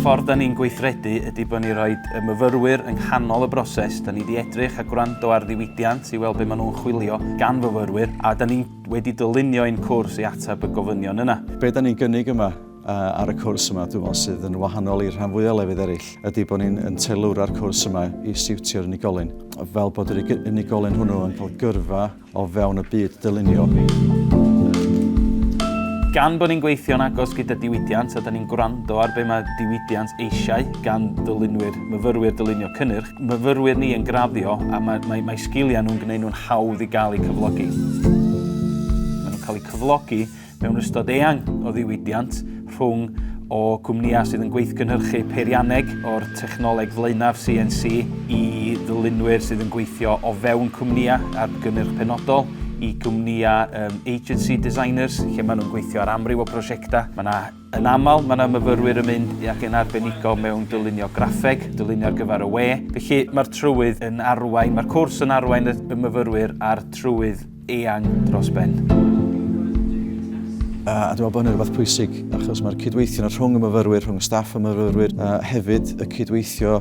ffordd da ni'n gweithredu ydy bod ni rhoi y myfyrwyr yng nghanol y broses. Da ni wedi edrych a gwrando ar ddiwydiant i weld beth maen nhw'n chwilio gan fyfyrwyr a da ni wedi dylunio ein cwrs i ateb y gofynion yna. Be da ni'n gynnig yma ar y cwrs yma, dwi'n meddwl sydd yn wahanol i'r rhan fwyaf o lefydd eraill, ydy bod ni'n yn teilwra'r cwrs yma i siwtio'r unigolyn. Fel bod yr unigolyn hwnnw yn cael gyrfa o fewn y byd dylunio. Gan bod ni'n gweithio'n agos gyda diwydiant a da ni'n gwrando ar be mae diwydiant eisiau gan ddylunwyr, myfyrwyr dylunio cynnyrch, myfyrwyr ni yn graddio a mae, mae, mae sgiliau nhw'n gwneud nhw'n hawdd i gael eu cyflogi. Maen nhw'n cael eu cyflogi Mewn ystod eang o ddiwydiant rhwng o gwmnïau sydd yn gweithgynhyrchu peirianneg o'r technoleg flaenaf CNC i ddylunwyr sydd yn gweithio o fewn cwmnïau ar gynnyrch penodol i gwmnïau um, agency designers lle maen nhw'n gweithio ar amryw o prosiectau. Mae yna Yn aml, mae yna myfyrwyr yn mynd ac yn arbenigo mewn dylunio graffeg, dylunio ar gyfer y we, felly mae'r trywydd yn arwain, mae'r cwrs yn arwain y myfyrwyr a'r trywydd eang dros ben. A dwi'n meddwl bod hynny'n rhywbeth pwysig, achos mae'r cydweithio rhwng y myfyrwyr, rhwng y staff y myfyrwyr, a hefyd y cydweithio